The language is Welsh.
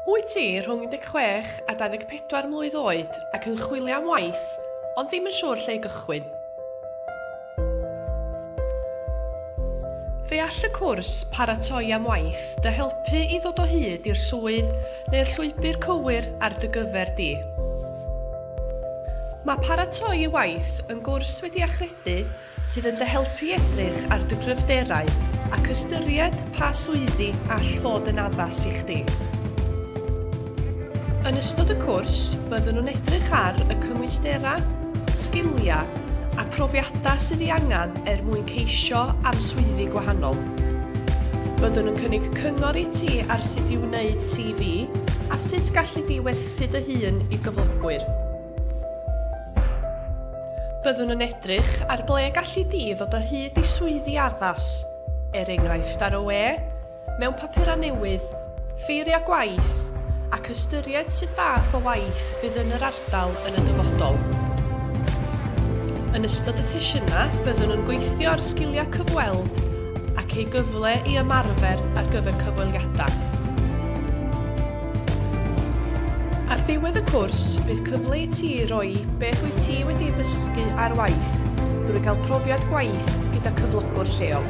Wyt ti rhwng 16 a 24 mlwydd oed ac yn chwilio am waith, ond ddim yn siŵr lle i gychwyn? Fe all y cwrs Paratoi am Waith dy helpu i ddod o hyd i'r swydd neu'r llwybr cywir ar dy gyfer di. Mae Paratoi i Waith yn gwrs wedi achredu sydd yn dy helpu i edrych ar dy gryfderau ac ystyried pa swyddi all fod yn addas i chdi. Yn ystod y cwrs, byddwn yn edrych ar y cymwysterau, sgiliau a phrofiadau sydd ei angen er mwyn ceisio am swyddi gwahanol. Byddwn yn cynnig cyngor i ti ar sut i wneud CV a sut galli di werthu dy hun i gyflogwyr. Byddwn yn edrych ar ble galli di ddod o hyd i swyddi addas, er enghraifft ar y we, mewn papurau newydd, ffeiriau gwaith, ac ystyried sut fath o waith fydd yn yr ardal yn y dyfodol. Yn ystod y sesiynau, byddwn yn gweithio ar sgiliau cyfweld ac ei gyfle i ymarfer ar gyfer cyfweliadau. Ar ddiwedd y cwrs, bydd cyfle i ti roi beth wyt ti wedi ei ddysgu ar waith drwy gael profiad gwaith gyda cyflogwr lleol.